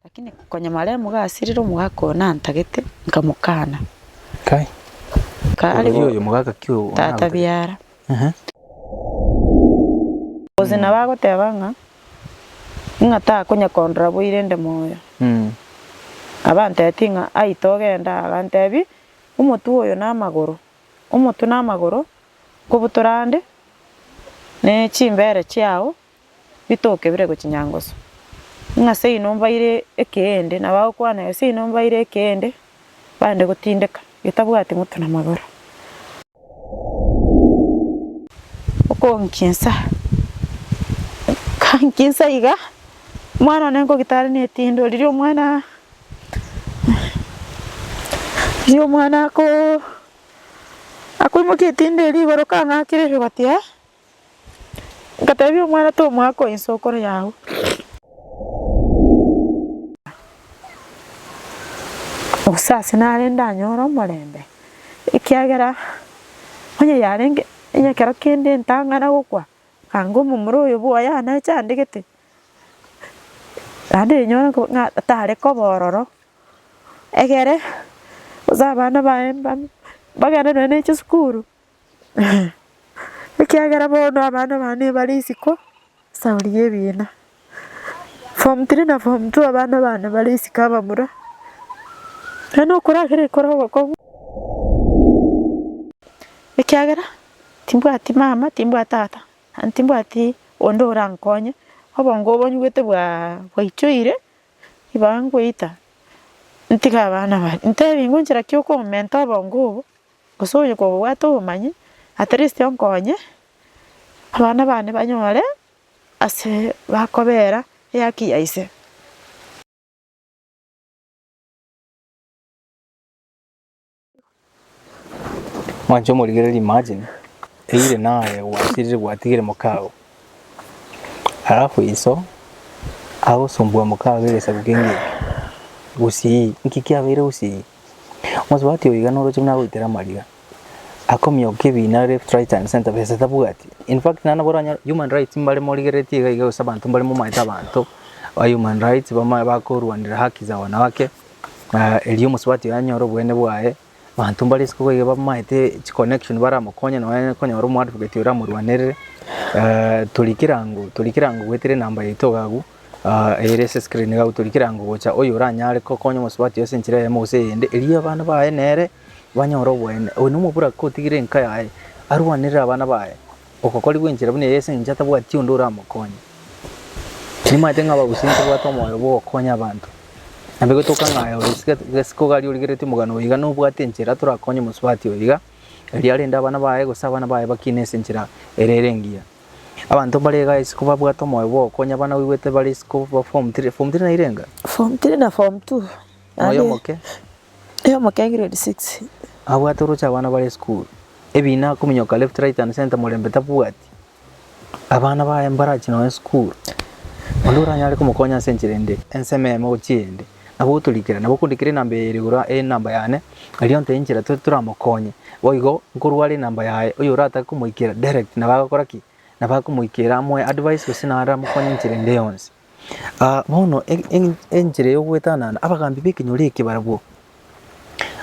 Lakini konya maremu gasirire omogaka oyo nantagete, nkamokana. Kai, Kare oria bo oyo mogaka ki o- tata onagotagete? biara. Ehe. Gose nabo agoteba ng'a, ng'a takonya kondora bo irende moyo. Mm. Abantebitie ng'a, aye togenda, agantebi, omotwe oyo na amagoro, omotwe na amagoro nkobutora ande, ne chimbeere chiao bitoke bire gochia nyangoso. Ng'a seino mbaire ekeende, na bagokwana, Ee, seino mbaire ekeende, bande gotindeka, getabwati motwe na magoro. Okonkinsa, kankinsa iga, omwana one nkogita are netindwa riria omwana Riria omwana akoo akoimokia etindi eria igoro kang'akire erigoti ee, ngatebia omwana tomoa ako inse okore yabo gose ase nare ndanyore omorembe, ekiagera onye yarenge onye ekero kende ntang'ana gokwa, anga omomura oyo boy'aa nache andegete, Naende rinyore ko ng'a tare koba ororo, egere gose abana baye mba mbagende nonya ne chisukuru ekiagera bono abana bane bare isiko sababu y'ebiina. Form three na form two abana bane bare isiko abamura, naende na okora kere ekero ogokong'u ekiagera timbwati mama timbwati tata. Timbwati onde orankonye, obongo obo nyigwete bwaichoire, ibaga nkoita ntige abana baria. Ntebi ngonchera ki okomenta obongo obo, gose onye kobwate obomanyi, at least onkonye abana bane banyore ase bakobera eyaki ya ise. Mwanche omorigereria imagine eyire naye gwasirire gwatigire mokago alafu iso agosumbua mokago egesaku kenge eke gusii nki kiabeire gusii mosubati oyo iga noroche buna agoitera amariga akomioka ebina left right and centre besa tabwati infact naende nabo oranyore human rights mbare morigereretie iga iga gose abanto mbare momaete abanto ba human rights bamanye bakorwanera haki za wanawake. Erio omosubati oye anyore obweene bwaye, abanto mbare isiko boigo bamaete chiconnection baramokonye nonye konyora omoadvocate oramorwanerere. Tori kerango tori kerango goetera enamba yaito iga agwo eyere ase escreen iga agwo tori kerango gocha oyo oranyare kokonya omosubati oye ase enchera eyemo gose eyende erio abana baye nere banyore obweene. Oyo nomobura kotigire enka yaye arwanerere abana baye. Ogokorigwa enchera buna eye ase engencho atabwati onde oramokonye. Nimanyete ng'a abagusia ntibabwate omoyo bw'ogokonya abanto. Nabo egetoka ng'a aye ore gesiga gesiku gari origereti omogano oyo iga nobwate enchera torakonye omosubati oyo iga, erio arende abana baye gose abana baye bakine ase enchera ere ere engiya. Abanto mbare iga isiko babwate omoyo bw'ogokonya abana oigwete bare isiko ba form three, form three nairenga? Form three na form two. Moyo Naende omoke. Moyo omoke grade six. Abwate oroche abana bare school. Ebina kominyoka left right and center morembe tabwati. Abana baye mbarachi noe school. Onde oranyare komokonya ase enchera ende. Ensemo emo gochia eyende. Nabo otorikera. Nabo okondikera enamba eye ere igoro enamba yane. Erio nte enchera tore toramokonye. Boigo nkorware enamba yaye. Oyo oratake komoikera direct nabo agokora ki? Nabo akomoikera amoe advice gose naramokonye enchera ende yonsi. Aa bono enchera yogoetanana, abagambi b'ekenyoro eke barabwo,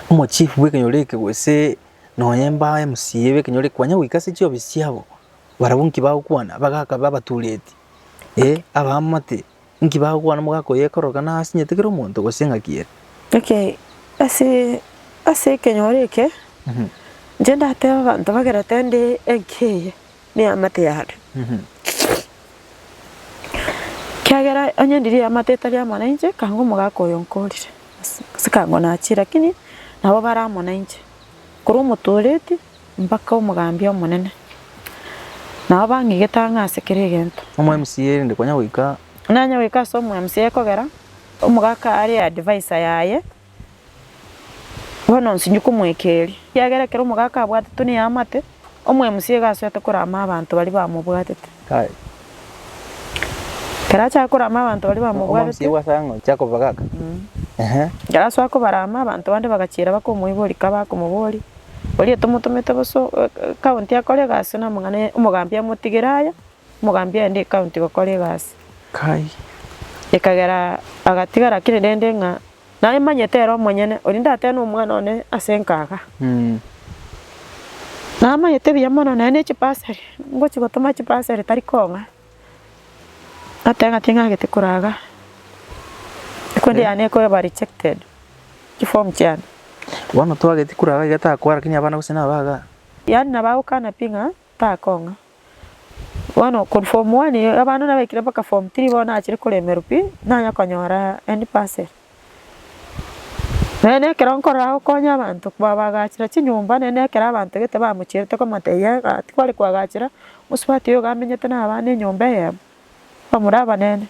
omochief bw'ekenyoro eke gose nonya mba mca b'ekenyoro eke kwanya goika ase chiofisi chiabo, barabwo nki bagokwana? Bagaka babe abatureti, eh abaamate, nki bagokwana omogaka oyo ekorokana asinyete kera omonto gose ng'aki ere. Okay, ase ase ekenyoro eke, inche ndateba abanto bagerete nde enka eye. neamate yane, ekiagera onye ndirie eamate etari amo nainche, ekanga omogaka oyo nkorire, gose ekanga nachiire, lakini nabo bare amo nainche, korwa omotooreti mpaka omogambia omonene, nabo bang'igete ang'e ase kera egento. Omwamca rende konya goika. Nanye goika ase omwamca ekogera, omogaka are adviser yaye, Bono nsinyi komoika erio, ekiagera ekero omogaka abwatetwe neamate, omwemusi iga asoete korama abanto baria bamobwatete. Ekero achaka korama abanto baria bamobwatete, ekero asoa kobarama, abanto bande bagachiera bakomoiboria ka bakomoboria, Oria tomotomete bosa o- o- ekaunti akore egasi na amang'ana ya omogambi amotigere aya. Omogambi aende ecounty gokora egasi. Kai. Ekagera agatigara kere rende ng'a naemanyete ere omonyene, oria ndatebe nomwana one ase nkaga. Namanyete buya mono naye ne chibasari, ngochi gotoma chibasari tari kong'a. Natebe ng'a ting'agete koraga, ekundi yane ekoba rejected, chiform chiane. Bono twageti koraga iga takoa lakini abana gose nabaga? Yaani nabo agokana pi ng'a. Takong'a. Bono korwa form one iga abana nabaikire mpaka form three bono nachire koremerwa pi, nanya konyora endi bursary. Naende ekero nkorora gokonya abanto babagachera chinyomba naende ekero abanto gete bamochiete komotebiaa ng'a tikware koagachera mosubati oyo iga amenyete na abana enyomba eyemo. Bamura abanene,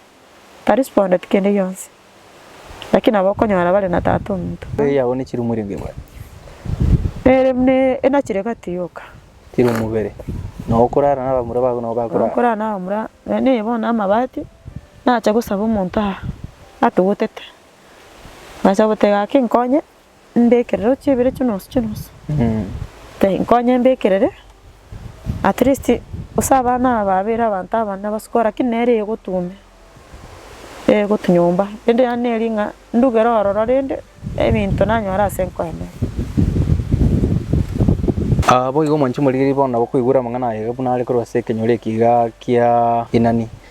tarispondet kende gionsi, lakini nabo okonyora bare na Tata ominto. Ere yao ne chirumu ere mbibare. Ere buna enachire gati yoka. Chirumu bere. Nao okorara na abamura bago nao bakorara. Nao okorara na abamura bene bono amabati, nache gosaba omonto aa atogotete, nache goteba gaki nkonye. mbekerere ochia ibere chinosu chinosu Nkai nkonye mbekerere at least gose abana aba abeire abanto abanene abasukuru lakini nere egotume egotu nyomba rende yane neri ng'a ndugere ororo rende ebinto nanyore ase nkoenere. Boigo mwanche morigererie bono nabo koigwera amang'ana aye buna are korwa ase ekenyoro eki igaa kia Inani.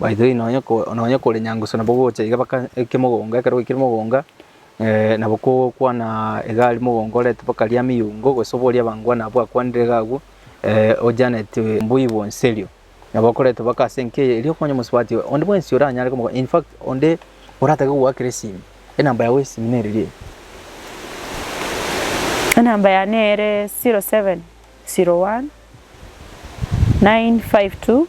Baitire nonya ko nonya kore nyangusu nabo gocha iga baka eke mogongo ekero gwaikire mogonga nabo kogokwana iga aria mogongo orete mpaka aria ameyungo gose oboria abangwana abwo akwanire iga agwo ojaneti mbwa igwa onsi erio. Nabo okoreta mpaka ase enka eye erio okonye omosubati oye onde bwensi oranyare komoka in fact onde oratake kogoakera esimi enamba yago y'esimi nere ri eye. Enamba yane ere zero seven zero one nine five two.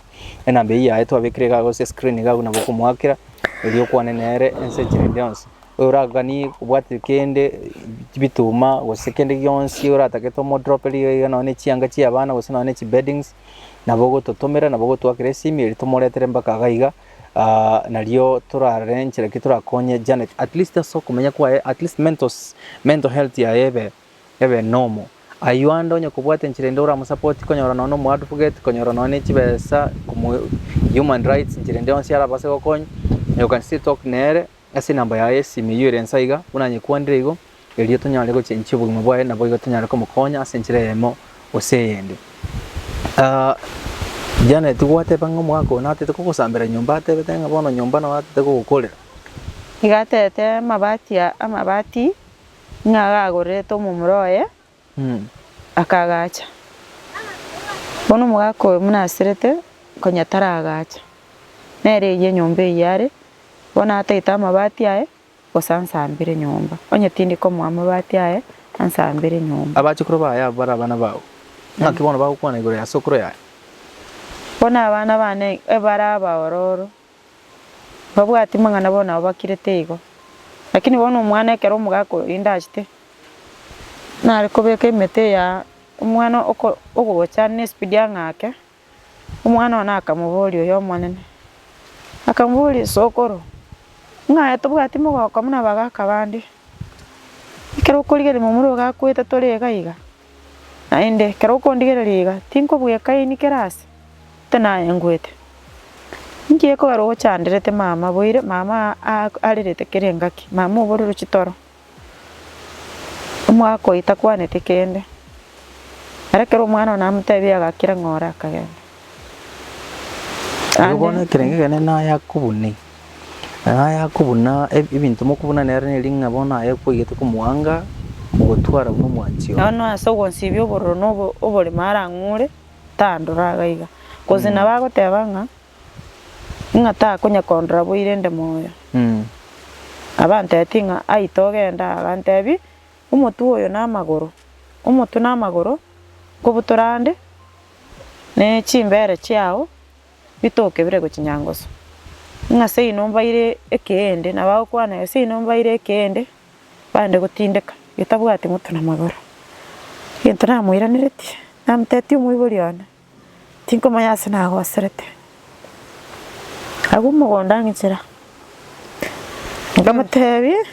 Enamba eyio yaye twabekire iga gose screen iga buna bokomoakera, erio okwane nere ense enchera ende yonsi. Oraganie obwate kende chibituma gose kende gionsi oratagete omodroperie iga iga nonye na echianga chia abana gose nonye na chibeddings, nabo ogototomera nabo ogotoakera esimi erio tomoretere mpaka iga iga nario torarore nchera ki torakonye Janet at least ase okomenya kwaye at least mental health yaye ebe Ebe nomo. Ayio ande onye kobwate enchera ende oramusapoti konyora nonya nomo advocate konyora nonya ne chibesa komo human rights enchera ende yonsi arabase gokonya you can still talk nere ase enamba yaye ya esimi eyio ere insa iga buna anyekwanire igo erio tonyare gochenchia obogima bwaye naboigo tonyare komokonya ase enchera eyemo gose eyende. Janet nigo gwateba ng'a omogaka oyo natete kogosambera nyomba atebete ng'a bono nyomba nao atete kogokorera. Iga atete amabati amabati. ng'a gagorerete omomura oye, akagacha. Bono omogaka oyo buna aserete konya taragacha, nere eyio enyomba eyio are, bono atagete amabati aye gose ansambere nyomba, onye tindi komoa amabati aye, ansambere nyomba. Abachukuru baye abwo bare abana bao, ng'aki bono bagokwana igoro ya sokoro yaye? Bono abana bane ebare abaororo. Mbabwati mang'ana bono ababakirete igo. Lakini bono omwana ekero omogaka oyo rinde achete, nare kobeka emete eya omwana oko ogocha ne speed ang'ake, omwana oye nakamoboria oyo omonene, akamoboria sokoro, ng'aye tobwati mogoko buna abagaka bande, ekero okorigereria momura ogakwete tore iga iga. Naende ekero okondigereria iga, tinkobwekaini kera aase, ntwe nayengwete. Inki ekogera ogochanderete mama boire, mama arerete kera engaki, mama oborero chitoro, omwaka oyo takwaneti kende. Ere ekero omwana one amotebia iga akire ng'ore akagenda. Erio Ande. bono ekerenge ekenene naya kobune, naya kobuna eb- ebinto mokobuna nere neri ng'a bono aye kwaigete komoanga, mogotwara buna omwanchi one. Bono ase ogonsibia obororo na obo- oborimo arang'ure, tandora iga iga. Gose nabo agoteba ng'a, ng'a takonya kondora bo irende moyo. Mm. Nabo antebetie ng'a ai togende aa, agantebia, omotwe oyo na amagoro, omotwe na amagoro, nkobutora ande. ne chimbeere chiao bitoke bire gochia nyangoso. Ng'a seino mbaire ekeende, na bagokwana, Ee, seino mbaire ekeende, bande gotindeka, getabwati motu na magoro. Egento namoiraneretie, namotebitie omoibori one, tinkomanya ase nagoserete. Agwo mogondo ang'inchera, nkamotebia,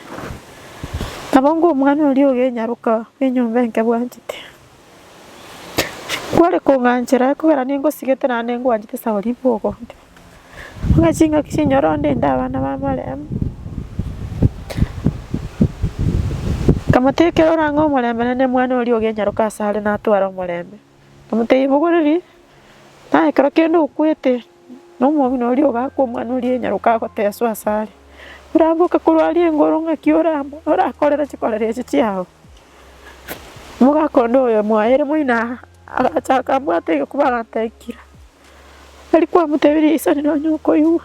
Nabo ng'o omwana oria ogenyaroka enyomba enke bwanchete? Kware kong'anchera ekogera ningosigete naende ngwanchete ase abwo ribu ogonte. Ng'a ching'aki chinyore onde inde abana b'amaremu. Nkamotebia ekero orang'e omorembe naende mwane oria ogenyaroka asare natware omorembe. Nkamotebia mogoreria, naye ekero kende okwete Na omong'ina oria ogaakwa omwana oria enyaroka agoteswa asare, Oramboke korwa aria engoro, ng'aki oramo, orakorere chikorero echi chiao? Omogaka onde oyo mwaere moino aa, agacha akambwata egekuba agantee, Ikira. Tari kwamotebirie isani nonye okoigwa.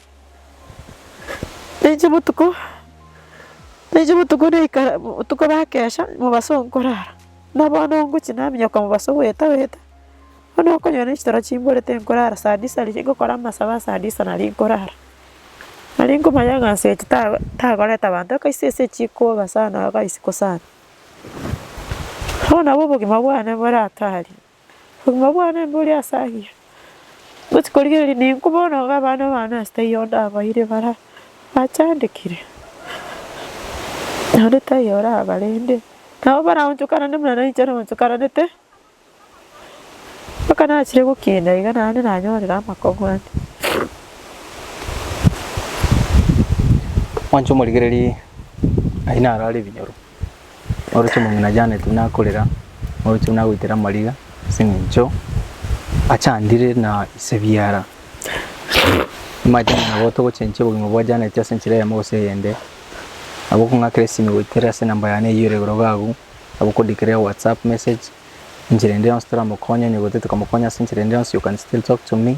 Nainche botuko, nainche botuko naikara botuko bakesha mobaso nkorara, buna bono ngochia naminyoka mobaso goeta goeta, bono okonyora nainche toro chimbore tinkorara saa disa riria ngokora amasabo ase saa disa naria nkorara. Naria nkomanya ng'a nsetsi tago tagoreta abanto akaise ase chikoba sana agaisiko sana. Bono nabo obogima bwane boratari. Obogima bwane mbore ase ayio. Gose korigereria ninku bono obe abana bane ase taiyo onde abaire bara achandekire, naende taiyo orabarende, nabo baraonchokanane buna nainche naonchokananete, mpaka nachire gokina iga naende nanyorere amakong'u ande. Mwanche omorigereria aye narare ebinyoro. Oroche omong'ina Janet buna akorera, oroche buna agoitera amariga ase eng'encho achandire na ise biara. Nimanyete ng'a nabo togochenchia obogima bwa Janet ase enchera eyemo gose eyende, nabo okong'akera esimi goetera ase enamba yane eywo ere igoro iga agwo, nabo okondikera ewhatsapp message enchera ende yonsi toramokonye, onye gose tokamokonya ase enchera ende yonsi you can still talk to me.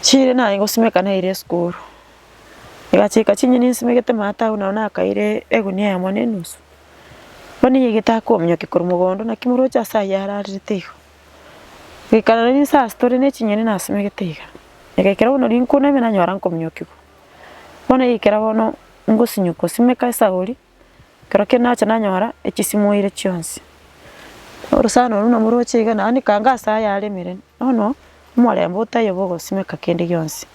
Chire naye ngosimeka naire esukuru, egachika chinyeni nsimegete maate agwo nabo nakaire egunia eyemo na enusu, bono eyio egetaka kominyoka korwa mogondo naki moroche ase ayio ararerete iga. Goikara rende inse ase tore na echinyeni nasimegete iga, egaikera bono rinkuna ime nanyora nkominyokigwa. Bono eikera bono ngosinywa kosimeka esagori, Kerokio nacha nanyora echisimoire chionsi. Orosana orwo nabo roche iga naende kanga ase ayare emeremo. Bono omorembe otayo bogosimeka kende gionsi.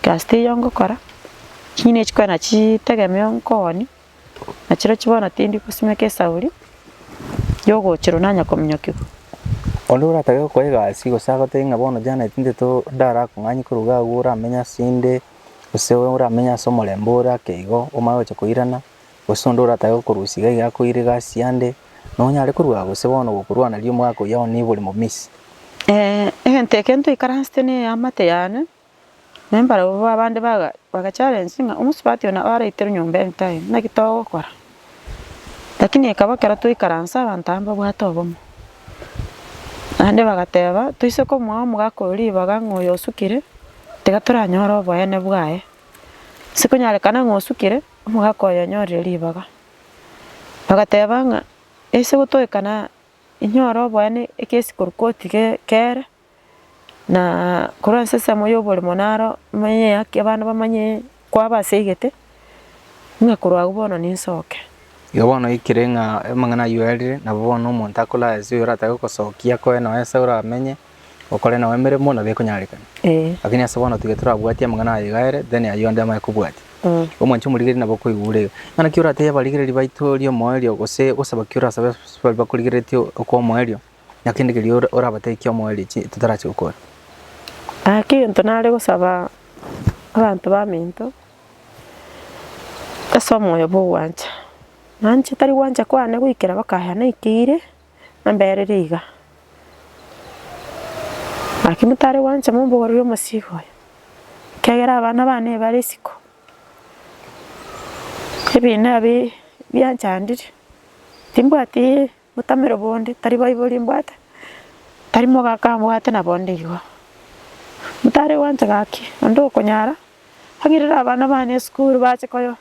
Egasi teiyo ngokora, chinyeni echio kwana chitegemeo nkooni, nachirochio bono tindi gosimeka esauri yogochirwa nanya kominyokigwa. Onde oratage gokora egasi gose agotebie ng'a bono Janet nteto ndara kong'anyia korwa iga agwo oramenye asende, Gose oramenye ase omorembe ore ake igo, omanye gocha koirana, gose onde oratake gokorusia iga iga akoire egasi yande, nonyare korua gose bono gokorwana riria omwaka oyio onye nibori momisi. egento ekio ntoikaransete neamate yane, na mbarabwo abande baga bagacharensi ng'a omosubati oyo nabo araiterwe nyomba eye time, naki togokora. Lakini ekaba ekero twaikaransa abanto aba mbabwate obomo. Naende bagateba, Toise komoa omogaka oyo ribaga ng'a oyo osukire, tiga toranyore oboene bwaye. Ase konyarekana ng'a osukire, omogaka oyo onyorire ribaga. Bagateba ng'a, Ase gotoekana inyore oboene egesi korwa koti ge kere. Na korwa ase ensemo y'oborimo naro manye haki abana bamanye kwabaseegete, ng'a korwa agwo bono ninsoke. Igo bono oikire ng'a amang'ana ayio arire, nabo bono omonto akoraya ase oyo oratake gokosokia akoe nao ense oramenye, okore nao emeremo nabo ekonyarekana. Ee. Lakini ase bono tiga torabwatia amang'ana aye iga are, then ayio ande amanye kobwatia. Mm. Omwancha omorigereria nabo okoigwa ore iga. Bono naki oratebie abarigereria baito riomoerio gose gosaba ki orasabe ase baria bakorigereretie okwa omoerio? Na kende keria orabatekie omoerechi totarachi gokora. Ake egento nare gosaba abanto baminto, ase omoyo bw'ogwancha. Naanche tari gwancha kwane goikera bakaya naikeire, namberire iga. Naki motare gwancha mombogorerie omosigo oye, ekiagera abana bane ebare isiko, ebina ebi bianchandire, timbwati. Motamero bonde, tari baibori mbwate, tari mogaka mbwate na bonde igo. Motare gwancha gaki, onde okonyara, ang'irere abana bane esukuru bache koyo,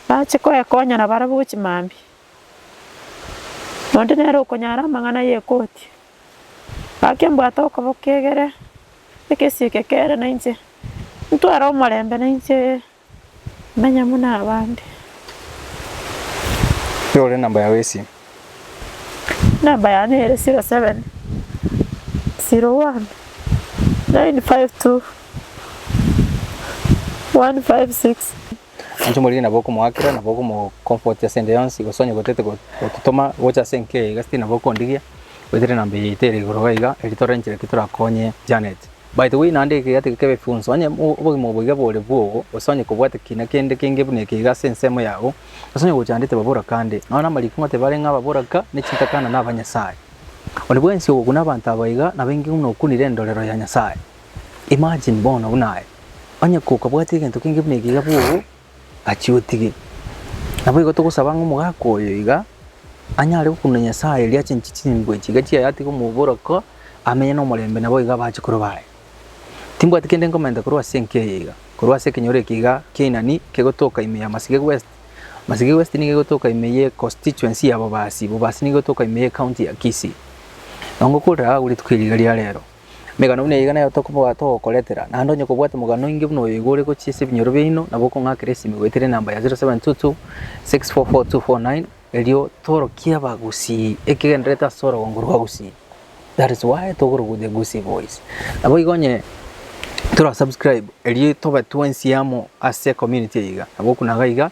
bache koekonya na barabwo chimambi. Onde nere okonyara amang'ana ye koti, gaki mbwate okoboka egere, ekesi eke kere nainche, ntware omorembe nainche. Manya buna abande. Rore namba yao esim. Namba yane ere 07 01 952 156. Inche omoriri nabo okomoakera nabo okomo comfort ase ende yonsi gose onye gotete gototoma gocha ase enka eye iga still nabo okondigia. Goetera enamba eye yaito ere igoro iga erio torenche naki torakonye Janet. Baito gwe naende ekegati eke kebe fionsi, onye obogima obo boiga bore bwogo, gose onye kobwate kina kende kenge buna eke iga ase ensemo yao, gose onye gochandete baboraka ande, nonya namariiko ng'ote bare ng'a ababoraka, ne chitakana, na abanyasae. Onde bwensi ogokuna abanto aba iga nabe inki buna okunire endorero ya Nyasae? Imagine bono buna aye, onye kokabwate egento kenge buna eke iga bwogo, Gachia otige. Naboigo togosaba ng'a omogaka oyo iga anyare gokunda Nyasae erio achenche chimbwe chiga chiaye atige omoboroko amenye nomorembe nabo iga abache koroba aye. Timbwati kende nkomenta korwa ase enka eye iga, korwa ase ekenyoro eke iga ki'Ainani kegotoka ime ya Masige West, Masige West nigo egotoka ime ye constituency ya Bobasi, Bobasi nigo egotoka ime ye county ya Kisii. Nongo okorera agwo rituko eri iga ria rero. Emegano buna eyio nayo tokobwata ogokoretera, naende onye kobwate omogano oinge buna oyo igo ore gochia ase ebinyoro biaino, nabo okong'akera esimi goetera enamba ya 0722 644249, erio torokie abagusii ekegendererete ase orogongo rwa gusii. That is why togorogwa the gusii boys. Naboigo onye tora subscribe erio tobe twensi amo ase ecommunity eye iga, nabo okuna iga.